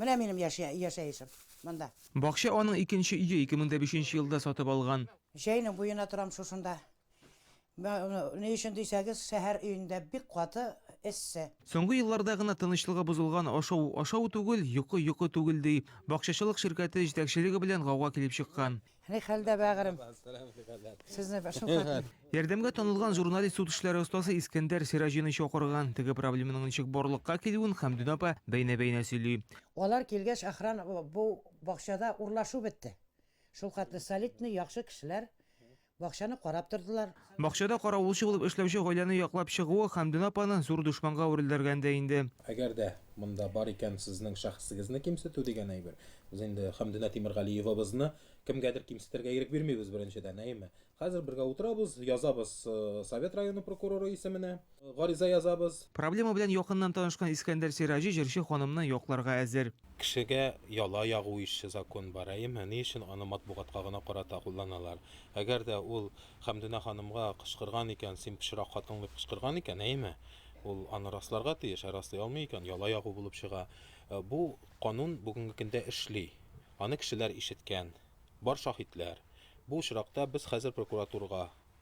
Менә минем яшә, яшәешем, монда. Бакча аның икенче өе, 2005 елда сатып алган. Чәйнең буена торам шушында. Ни өчен дисәгез, шәһәр өендә бик каты эссе. Соңгы елларда гына тынычлыгы бозылган ашау, ашау түгел, йокы, йокы түгел, ди. Бакчачылык ширкәте җитәкчелеге белән гауга килеп чыккан. Ни хәлдә, бәгырем? Сезне шул Ярдәмгә танылган журналист суд эшләре остасы Искәндәр Сираҗины чакырган. Теге проблеманың ничек барлыкка килүен Хәмдүнә апа бәйнә-бәйнә сөйли. Алар килгәч, охран бу бакчада урлашу бетте. Шулхәтле солидный, яхшы кешеләр бакчаны карап тордылар. Бакчада каравылчы булып эшләүче гаиләне яклап чыгуы Хәмдүнә апаны зур дошманга әверелдергән дә инде. Әгәр дә монда бар икән сезнең шәхесегезне кимсетү дигән әйбер, без инде Хәмдүнә Тимергалиевабызны кемгәдер кимсетергә ирек бирмибез, беренчедән, әйеме? Хәзер бергә утырабыз, язабыз Совет районы прокуроры исеменә. гариза язабыз. Проблема белән якыннан танышкан Искәндәр Сираҗи җырчы ханымны якларга әзер. Кешегә яла ягу ише закон бар, әйеме? Ни өчен аны матбугатка гына карата кулланалар? Әгәр дә ул Хәмдүнә ханымга кычкырган икән, син пычрак хатын дип кычкырган икән, әйеме? Ул аны расларга тиеш, ә раслый алмый икән, яла ягу булып чыга. Бу канун бүгенге көндә эшли. Аны кешеләр ишеткән. Бар шаһитләр. Бу очракта без хәзер прокуратурага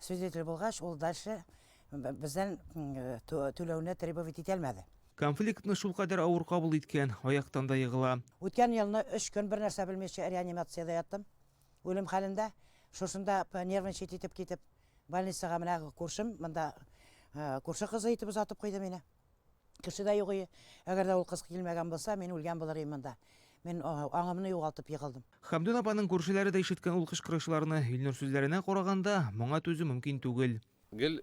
Свидетель булгач, ул дальше бездән түләүне требовать итә алмады. Конфликтны шулкадәр авыр кабул иткән, аяктан да егыла. Үткән елны өч көн бернәрсә белмичә реанимациядә яттым, үлем хәлендә. Шушында нервничать итеп китеп, больницага менә күршем, монда күрше кызы итеп озатып куйды мине. Кеше дә юк ие. Әгәр дә ул кыз килмәгән булса, мин үлгән булыр идем монда. Мин аңымны югалтып егылдым. Хәмдүн апаның күршеләре дә ишеткән ул кычкырышларны. Илнур сүзләренә караганда, моңа түзү мөмкин түгел. Гел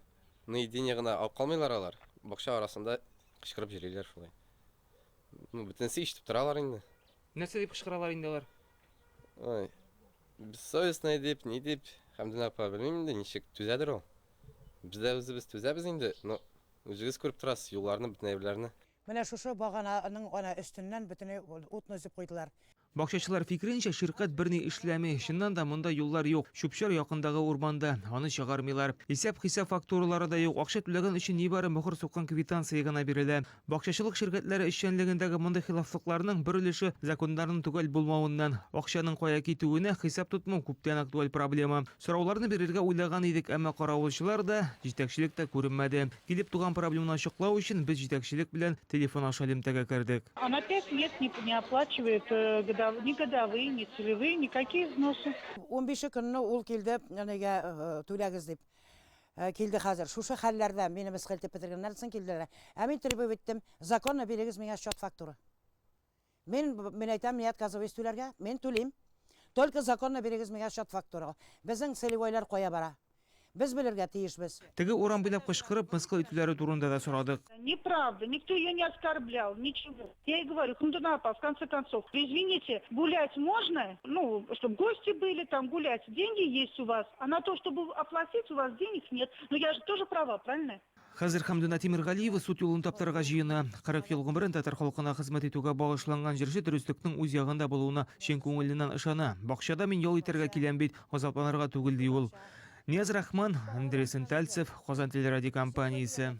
наедине гына алып калмыйлар алар, бакча арасында кычкырып йөриләр шулай. Ну, бөтенесе ишетеп торалар инде. Нәрсә дип кычкыралар инде алар? Ой, бессовестная дип, ни дип, Хәмдүн апа, белмим инде, ничек түзәдер ул. Без дә үзебез түзәбез инде, но Үзегез күреп торасыз, юлларны, бөтен әйберләрне. Менә шушы багананың гына өстеннән бөтенләй утны өзеп куйдылар. Бакчачылар фикеренчә, ширкать берни эшләми. Чыннан да, монда юллар юк. Чүп-чар якындагы урманда. Аны чыгармыйлар. Исәп-хисап фактуралары да юк. Акча түләгән өчен нибары мохор суккан квитанция гына бирелә. Бакчачылык ширкәтләре эшчәнлегендәге мондый хилафлыкларның бер өлеше, законнарның төгәл булмавыннан. Акчаның кая китүенә хисап тотмау күптән актуаль проблема. Сорауларны бирергә уйлаган идек, әмма каравылчылар да, җитәкчелек тә күренмәде. Килеп туган проблеманы ачыклау өчен, без җитәкчелек белән телефон аша элемтәгә кердек. Она пять лет не не оплачивает годов ни годовые, ни целевые, никакие взносы. Унбише көнне ул килде әнигә түләгез дип. Килде хәзер. Шушы хәлләрдә мине мыскыл итеп бетергәннәр соң килделәр. Ә мин требовать иттем, законно бирегез миңа счет-фактура. Мин, мин әйтәм, ни отказываюсь түләргә, мин түлим. Только законно бирегез миңа счет фактура. Безнең целевойлар кая бара? Без белергә тиешбез. Теге урам буйлап кычкырып, мыскыл итүләре турында да сорадык. Неправда, никто ее не оскорблял, ничего. Я ей говорю, Фундуна апа, в конце концов, вы извините, гулять можно? Ну, чтобы гости были, там, гулять, деньги есть у вас, а на то, чтобы оплатить, у вас денег нет. Ну, я же тоже права, правильно? Хәзер Хәмдүнә Тимергалиева суд юлын таптарга җыена. 40 ел гомерен татар халкына хезмәт итүгә багышланган җырчы дөреслекнең үз ягында булуына чын күңеленнән ышана. Бакчада мин ял итәргә киләм бит, газапланырга түгел, ди ул. Нияз Рахман, Андрей Сентальцев, Казан телерадиокомпаниясе.